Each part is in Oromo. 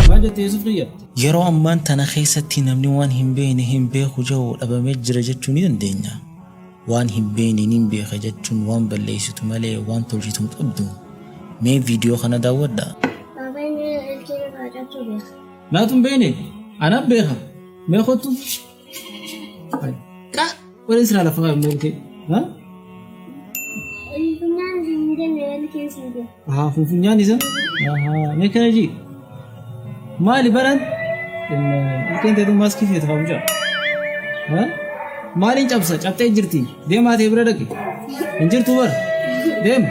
Maal jette Yuusuf kiyya? Yeroo ammaan tana keessatti namni waan hin beekne hin beeku jedhu dhabamee jira jechuu ni dandeenya. Waan hin beekne ni beeka jechuun waan balleessitu malee waan tolchitu hin qabdu. Mee viidiyoo kana daawwadhaa. Baabaan ilkee irraa cabsuu beeka. Naatu hin beekne? Anaan beeka. Mee kottu. Kak, wani sira da fara mai kai. Ha? Funfunyaan ni danda'e wani keessa hin jiru. Ha, funfunyaan isa? Ha, me kana ji? Maali baran? Ilkeen teetu maaskii feetu haa bulchaa. Ha? Maaliin cabsa? Cabxee jirti. Deemaa ta'e bira dhaqi. Hin jirtu bar. Deema.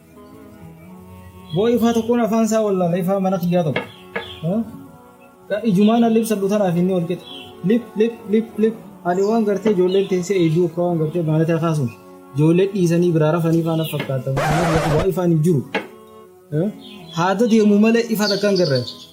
Boo ifaa tokkoon afaan isaa wallaala ifaa mana kiyyaa tokko. Ijumaan alli ibsadhu tanaaf inni wal qixa. Lip lip lip lip ani waan gartee ijoolleen teessee eeyyuu akka waan gartee maalataa kaasuun ijoollee dhiisanii biraa rafanii faana fakkaatamu. Kanaaf ifaan hin jiru. Haada deemu malee ifaa takkaan garraacha.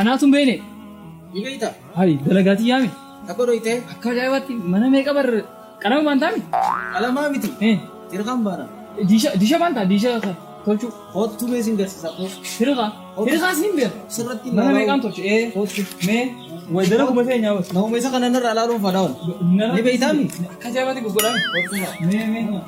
Anaatu hin beekne. Ni beekta? Hayi dalagaa tiyyaa mi? Takka dhoytee? Akka ajaa'ibaatti mana meeqa bar qalama baantaa mi? Qalamaa miti. Eh, Dirqaan baana. Diisha diisha baantaa diisha tolchuu. Koottu mee sin garsiisa koo. Hirqa. Hirqaas ni beeka. Sirratti Mana meeqaan tolche? Eh, Koottu. mee wayi dalagu matee nyaa bas. Nama isa kana narraa ilaaluun fadhaa'oon. Ni beektaa mi? Akka ajaa'ibaatti gurguraa mi? Koottu. Mee mee.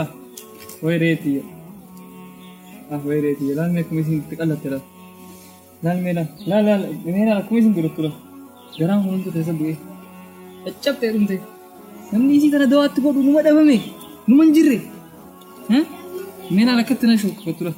Ah, way reetii. Ah, way reetii. Laal mee akkuma isin itti qallatte laal. Laal mee laal. Laal laal. Mee laal akkuma isin godhattu laal. Garaan kun hunduu keessa bu'ee. Caccabtee dhumte. Namni isii tana dawaatti godhu numa dhabame. Numa hin jirre. Mee laal akkatti na shukkufattu laal.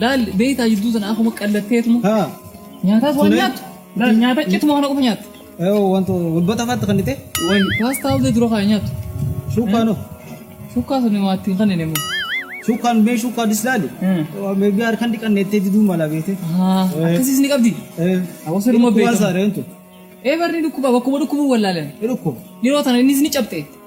Laal beektaa jidduu sana akkuma qallatteetuma. Haa. Nyaataas waan Sure. nyaattu. Laal nyaata cituma kana qofa nyaattu. Yoo wanta walbata faatti kan dhite. Wayi paastaa hojii dura kana nyaattu. Shuukaan hoo. Shukkaa sana maatti hin kanneen immoo. Shuukaan mee shuukaan dislaali. Hmm. Meebi harkaan dhiqanneettee diduu mala beete. Haa Eh. akkasiis ni qabdi. Hawaasa dhuma Dhukkuba beekamu. saareentu. Ee barri dhukkuba bakkuma dhukkubu wallaalan. Dhukkuba. Yeroo tana innis ni cabxe.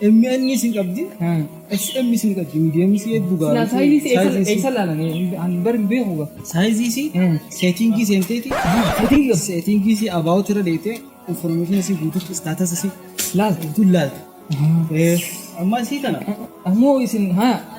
MN sin qabdi. SM sin qabdi. Medium si hedduu gaara. Silaa saayizii si eessa eessa laalame an bar hin beeku ga. Saayizii si seetingii seenteeti. Seetingii qabdi. Seetingii si about irra deetee information si guututti status si Laal. guutuun laalti. Ammaa sii kana. Ammoo isin haa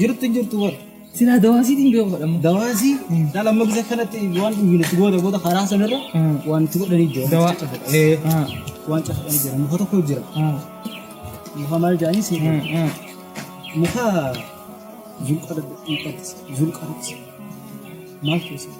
Jirtu hin jirtu bar. Silaa dawaasii hin beeku fadhamma. Dawaasii dhala amma gisa kanatti waan dhugina itti goota goota karaa sanarra waan itti godhanii jira. Dawaa. Waan cafadhanii jira. Muka tokko jira. Muka maal jedhanii si muka zulqarati. Zulqarati. Maal keessa?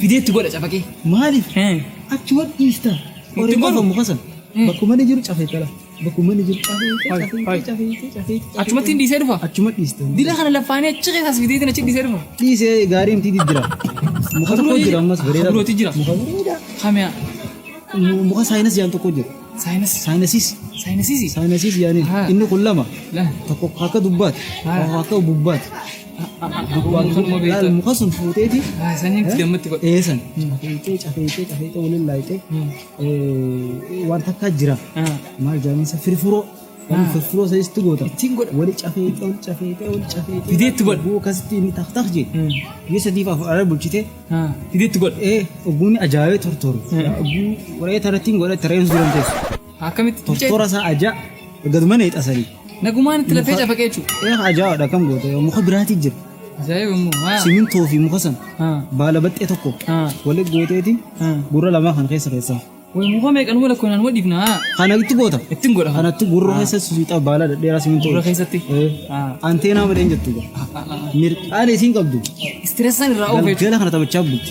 Fideetti godha cafaqee. Maaliif Heen. achuman dhiista? Itti Oriin goru. afamu kasan. Mm. Bakkuma inni jiru cafee tala. Bakkuma inni jiru cafee Hai, hai. cafee cafee cafee. Achumatti hin dhiisee dhufa. Achuma dhiista. Dila kana laffaanee achi keessas fideetiin achi dhiisee dhufa. Dhiisee gaarii miti jira. Muka tokko jira ammas bareeda. Haburooti jira. Muka bareeda. Kamiyaa. Mu- Muka saayinas yaan tokko jira. Saayinas. Saayinasiis. Saayinasiisi. Saayinasiis yaaniin. Haa. Inni kun lama. Lama. Tokko akka dubbaati. Haa. Tokko akka bubbaati. Laal muka sun fuuteeti. Sanyii itti gammatti godhe. Eesan. Cafeecee cafeecee cafeecee waliin laayitee. Waan takkaa jira. Maal jaaminsa firfuroo. Waan firfuroo isa itti goota. Ittiin godha. Wali cafeecee wali cafeecee wali cafeecee. Fidee itti godha. Buu akkasitti inni tak tak jee. Yoo sadii fa'aa fudhara bulchitee. Fidee itti godha. Ee ogumni ajaa'ibee tortoru. Ogumni waree tarattiin godha tareen suuran teessu. Akkamitti cuucee? Tortora isaa ajaa. Gaduma na hixasanii. Nagumaan itti lafee cafaqee jechuudha. Ee ajaa'oodha kam goota yoo muka biraatii jira. Ajaa'iba immoo. Haa. Simintoo fi muka sana Haa. baala baxxee tokko Haa. waliin gooteetiin Haa. gurra lamaa kan keessa keessaa. Way muka meeqan wal akkoo naan wadhiifna haa. Kana itti goota. Ittiin godha. Kanatti gurra keessa suuta baala dhedheeraa simintoo. Gurra keessatti? Ee. Haa. Anteenaa malee hin jettu. Mirqaan isiin qabdu. Istireessaan irraa oofee jechuudha. Galgala kana taphachaa bulti.